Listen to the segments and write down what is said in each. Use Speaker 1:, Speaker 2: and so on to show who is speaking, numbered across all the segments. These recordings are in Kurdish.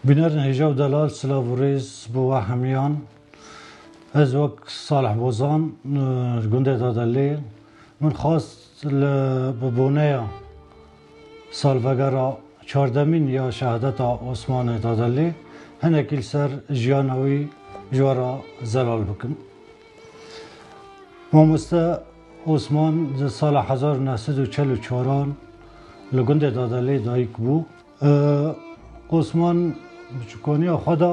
Speaker 1: Biner Nehijav Delal silav û rêz bo we hemiyan. Ez wek Salih Bozan li gundê Dadelê min xwest li bi boneya salvegera çardemîn ya şehadeta Osmanê Dadelê hinekî li ser jiyana wî ji we re zelal bikim. Mamoste Osman di sala hezar û neh sed û çel û çaran li gundê Dadelê dayik bû. Osman bi çikoniya xwe de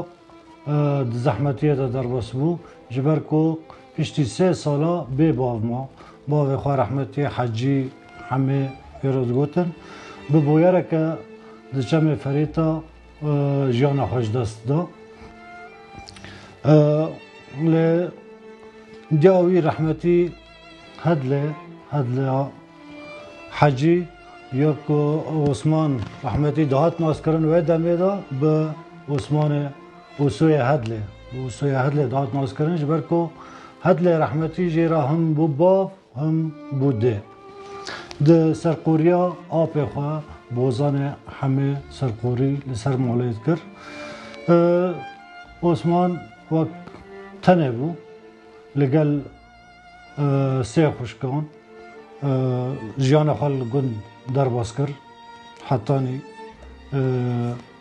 Speaker 1: di zehmetiyê de derbas bû ji ber ku piştî sê sala bê bav ma. Bavê xwe rehmetî Hecî Hemê pêro digotin bi boyereke di çemê Ferêta, jiyana xwe ji dest da. Lê diya wî rehmetî Hedlê Hedleya Hecî ya ku Osman rehmetî dihat naskirin wê demê de bi Osmanê Usoyê Hedlê Usoyê Hedlê dihat naskirin ji ber ku Hedlê rehmetî jê re him bû bav Him bû dê. Di serqoriya apê xwe bozanê hemê serqorî li ser malê dikir. Osman wek tenê bû li gel sê xuşkan jiyana xwe li gund derbas kir. Hetanî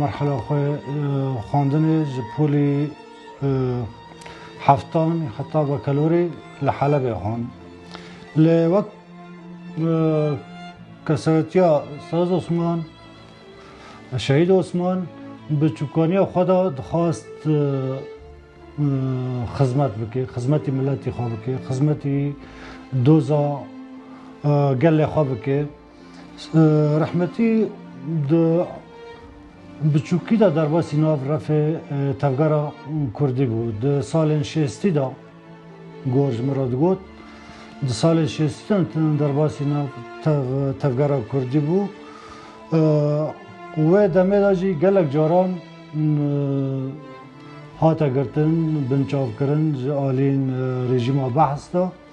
Speaker 1: Merhela xwe xwendinê ji polî heftan heta bekelorê li Helebê xwend. Lê wek kesayetiya Saz Osman, Şehîd Osman bi çûkaniya xwe de dixwast xizmet bike, xizmetî miletî xwe bike, xizmetî doza gelê xwe bike. Rehmetî di biçûkî de derbasî nav refê tevgera Kurdî bû. Di salên şêstî de gor ji min re digot. Di salên şêstî de derbasî nav tevgera Kurdî bû. Wê demê de jî gelek caran hate girtin, binçavkirin ji aliyên rejîma behs de.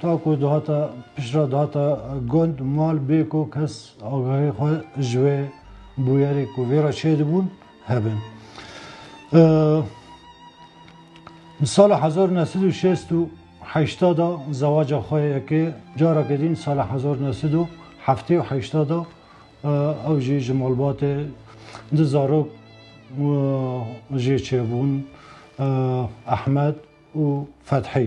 Speaker 1: Ta ku dihata piştre dihata gund mal bê ku kes agahî xwe ji wê bûyerê ku vê re çêdibûn hebin. Di sala hezar neh sed û şêst û heşta de zewaca xwe yekê careke din di sala hezar neh sed û heftê û heşta de ew jî ji malbatê du zarok jê çêbûn Ehmed û Fethî.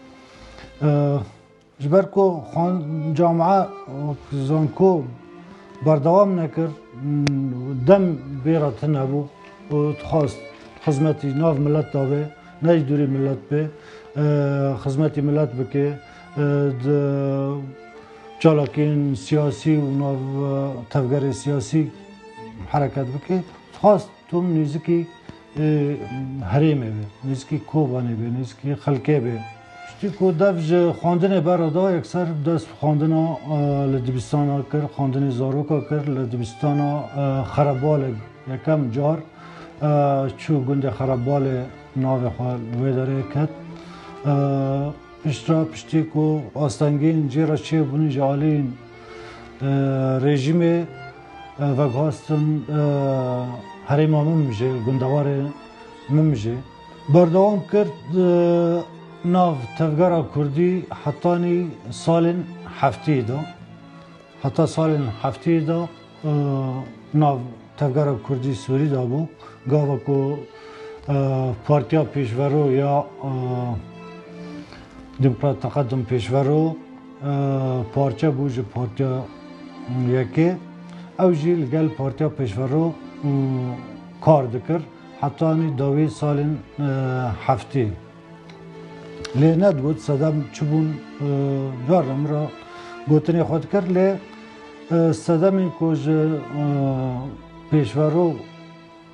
Speaker 1: Ji ber ku camia zanko berdewam nekir dem bê re tune bû û dixwast xizmetî nav milet de bê ne jî dûrî milet bê xizmetî milet bike di çalakiyên siyasî û nav tevgerê siyasî hereket bike dixwast Tom nêzikî herêmê be, nêzikî Kobanê be, nêzikî xelkê be. Piştî ku dev ji xwendinê berada yekser dest bi xwendina li dibistana kir, xwendinê zaroka kir li dibistana Xerebalê yekem car çû gundê Xerebalê navê xwe li wê derê ket. Piştra piştî ku astengîn cê re çêbûn ji aliyên rejîmê Veguhastin herêma min jî, gundewarê min jî berdewam kir nav tevgera kurdî hetanî salên heftiyê de. Heta salên heftiyê de nav tevgera kurdî Sûrî de bû. Gava ku Partiya Pêşvero ya Demokrat Teqedum Pêşvero Parçe bû ji Partiya Yekê. Ew jî li gel Partiya Pêşvero kar dikir hetanî dawî salên heftê. Lê nedibût sedem çibûn gar re min re gotinê xwe dikir lê sedemên ku ji pêşvero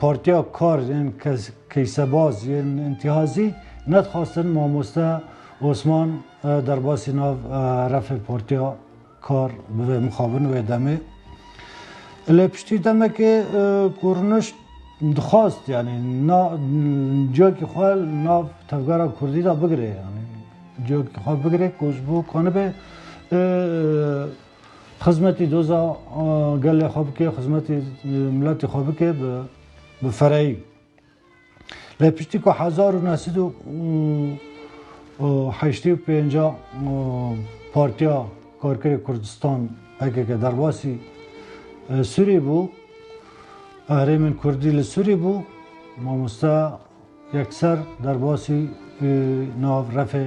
Speaker 1: Partiya Kar ên Keysebaz yên Întîhazî nedixwastin mamoste Osman derbasî nav refê Partiya Kar bibe mixabin wê demê. Lê piştî demekê ku rûnişt dixwast yanî ciyakî xwe nav tevgera kurdî de bigire yanî ciyakî xwe bigire ku ji bo ku nibe Xizmetî doza gelê xwe bike, xizmetî miletê xwe bike bi bi fereyî. Lê piştî ku hezar û neh sed û heştê û pênca Partiya Karkerê Kurdistan PKK derbasî Sûrî bû, herêmên Kurdî li Sûrî bû, mamoste yekser derbasî nav refê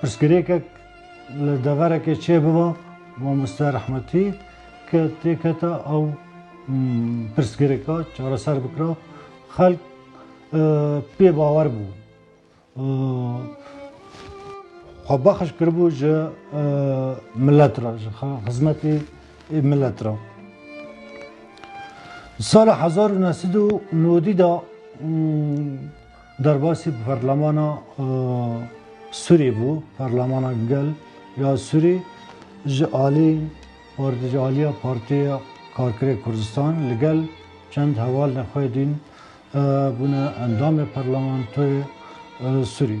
Speaker 1: Pirsgirêkek li deverekê çêbiba mamoste rehmetî ke têketa ew pirsgirêka çareser bikira xelk pê bawer bû. Xwe bexiş kiribû ji milet re ji xizmetê ê milet re. Sala hezar û neh sed û nodî de Derbasî Parlemana Sûrî bû, Parlemana Gel ya Sûrî ji alî ji aliya Partiya Karkerê Kurdistan li gel çend heval nexwedîn bûne endamê parlamentoyê Sûrî.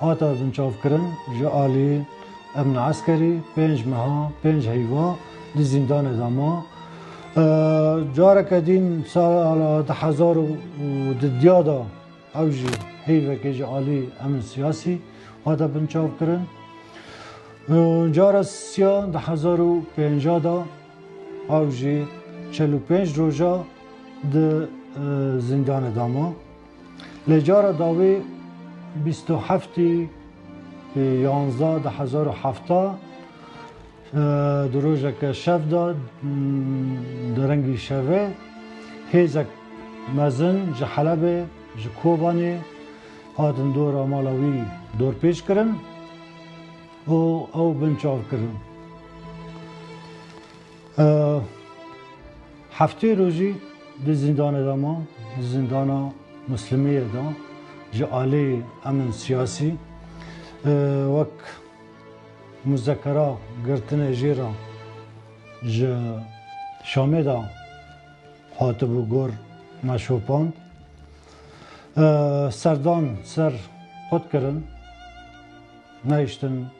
Speaker 1: Hate binçavkirin ji aliyê Emna Eskerî pênc meha pênc heyva di zîndanê de ma. Careke dîn sala di hezar û di diya de ew jî heyvekê ji alî emin siyasî hate binçavkirin. Cara siya di hezar û pênca de ew jî çel û pênc roja di zîndanê de ma. Lê cara dawî bîst û heftî yanze di hezar û hefta di rojeke şev de di rengî şevê hêzek mezin ji Helebê ji Kobanê hatin dora mala wî dorpêç kirin û ew binçav kirin. Heftê rojî di zîndanê de ma, di zîndana Muslimiyê de ji alî emn siyasî wek muzekera girtinê jê re ji Şamê de hatibû gor me şopand. Serdan ser xwe dikirin, nehiştin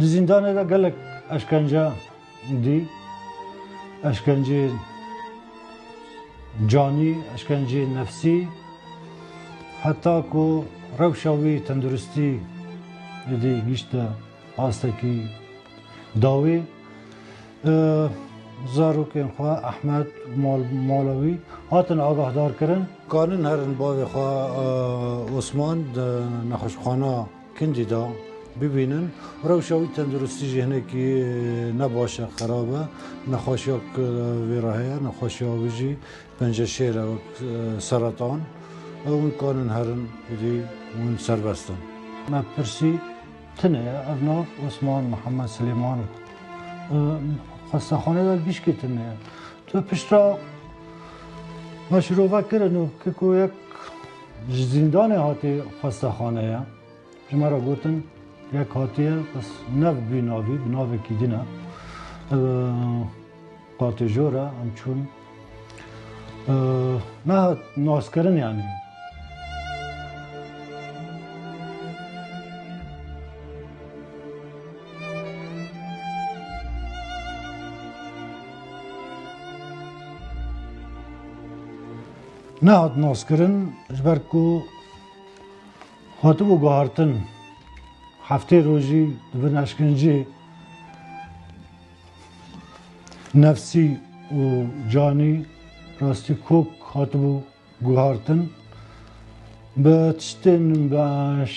Speaker 1: Di zîndanê de gelek eşkence dî, eşkenceyên canî, eşkenceyên nefsî heta ku rewşa wî tenduristî êdî gihîşte astekî dawî. Zarokên xwe Ehmed mala wî hatin agahdarkirin. Karin herin bavê xwe Osman di nexweşxana Kundî da bibînin rewşa wî tenduristî jî hinekî ne baş e xerab e. Nexweşiya ku vê re heye nexweşiya wî jî pence şêr e wek seretan. Ew hûn karin herin êdî hûn serbest in. Me pirsî tune ye ev nav Osman Mihemed Silêman xwestaxaneyê de li Bîşkê tune ye. Tu pişta me şirove kirin û ki ku yek Ji zîndanê hatiye xwestaxaneya ji me re gotin yek hatiye bes nev bî navî bi navekî din e. Qatê jor e em çûn. Nehat naskirin yanî. Nehat naskirin ji ber ku hatibû guhartin heftê rojî di bin eşkencê nefsî û canî rastî kok hatibû guhartin. Bi tiştên bi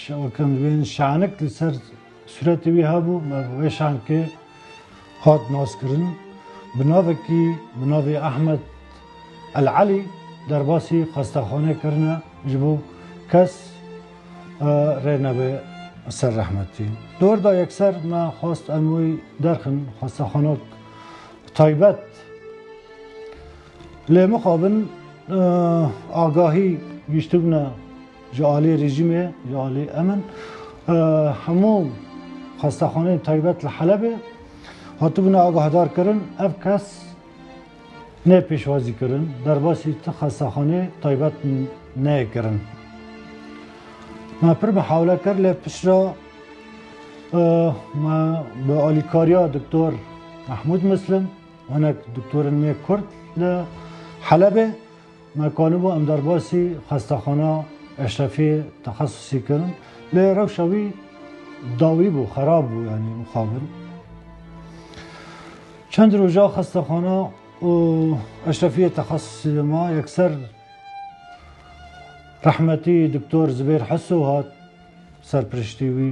Speaker 1: şewekan wên şenik li ser Sûretê wî hebû me bi wê şankê hat naskirin. Bi navekî bi navê Ahmed El Elî derbasî xwestexanê kirine ji bo kes rê nebe ser rehmetî. Di wir de yekser me xwest em wî derxin xwestexanek taybet. Lê mixabin agahî gihîştibûne Ji aliyê rejîmê, ji aliyê emin hemû xwestaxaneyên taybet li Helebê hatibûne agahdarkirin. Ev kes ne pêşwazî kirin, derbasî ti xwestaxanê taybet neyê kirin. Me pir mihawle kir lê pişra me bi alîkariya doktor Mehmûd Muslim hinek doktorên nê Kurd li Helebê Me qaliba em derbasî xestaxana Eşrefiyê texesusî kirin. Lê rewşa wî dawî bû, xerab bû yanî mixabin. Çend roja xestaxana û Eşrefiyê texesusî de ma yekser rehmetî Doktor Zibêr Heso hat serpiriştî wî.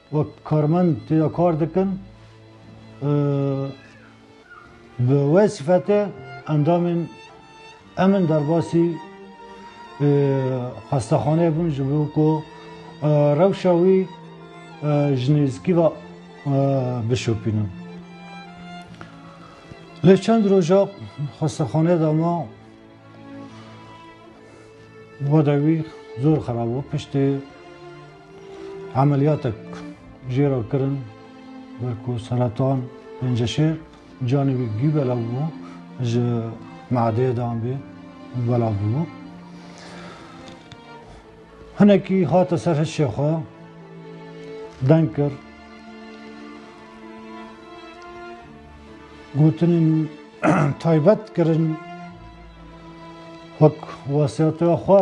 Speaker 1: Wek karmend têda kar dikin û bi wê sifetê endamên em in derbasî xwestexaneyê bûn ji bo ku rewşa wî ji nêzîkî ve bişopînin. Lê çend roja xwestexaneyê de ma wada wî zor xerab bû piştî Emeliyatek jê re kirin ber ku seretan penceşêr canê wî bigî belav bû ji meadeyê de anbê belav bû. Hinekî hate ser hişê xwe deng kir gotinên taybet kirin wek wesiyatê xwe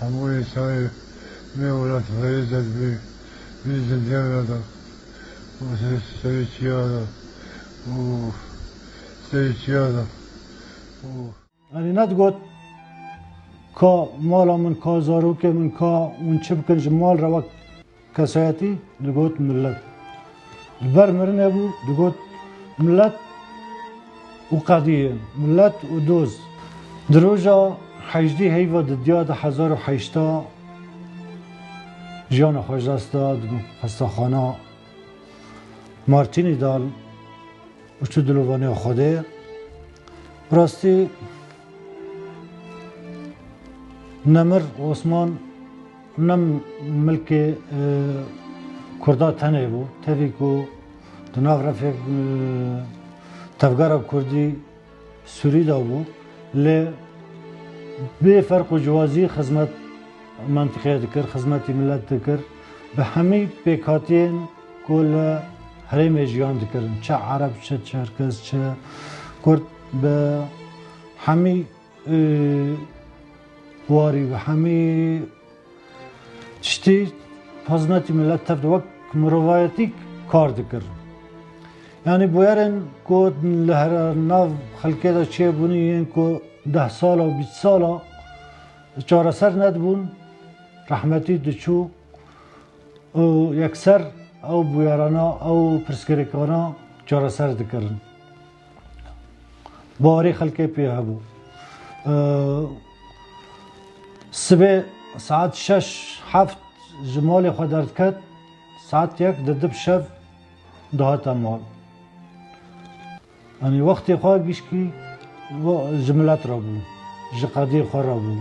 Speaker 2: Hemû yekayê vê welat xêrê dest bi vê zindiyan re da û serê çiya da û serê çiya da û.
Speaker 1: Erê net got ka mala min ka zarokê min ka hûn çi bikin ji mal re wek Kesayetî digot milet. Li ber mirinê bû digot milet û qediyê, milet û doz. Di roja hejdî heyva di diya di hezar û heşta jiyana xwe ji dest da di xwestaxana Martînî de û çû dilovaniya Xwedê. Bi rastî Nemir Osman Nam milkê Kurda tenê bû. Tevî ku di nav refê tevgera Kurdî Sûrî de bû lê bê ferq û ciwazî xizmet mentiqeyê dikir, xizmetî milet dikir. Bi hemî pêkhatiyên ku li herêmê jiyan dikirin, çi ereb, çi çerkez, çi kurd bi hemî Warî bi hemî tiştî xizmetî milet tevd wek mirovayetî kar dikir. Yanî bûyerên ku li her nav xelkê de çêbûnî yên ku deh sal û bîst sal a çareser nedibûn rehmetî diçû û yekser ew bûyerana ew pirsgirêkana çareser dikirin. Baharê xelkê pê hebû. Sibê saet şeş heft ji malê xwe derdiket saet yek di dib şev dihate mal. Anî wextê xwe gişkî ji milet re bû, ji qedê xwe re bû.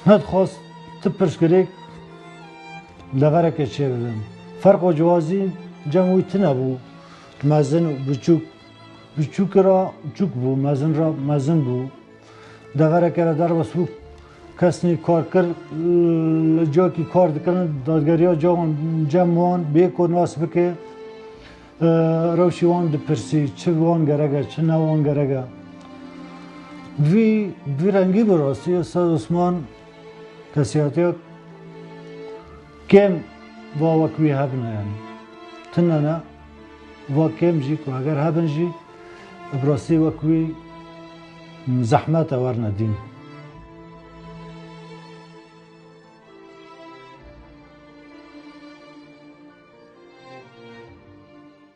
Speaker 1: Nedixwast ti pirsgirêk Levereke çêbibin. Ferqa ciwazî cem wî tune bû. Mezin û biçûk. Biçûki ra çûk bû, mezin ra mezin bû. Levereke re derbas bû kesnî kar kir li cakî kar dikirin dadgeriya cawan cem wan bê ku nas bike rewşî wan dipirsî çi wan gerege çi ne wan gerege. Vî vî rengî bi rastî Ustad Osman Kesiyatiya kêm va wek wî hebûne yanî tune ne va kêm jî ku eger hebin jî bi rastî wek wî zehmet e werne dîn.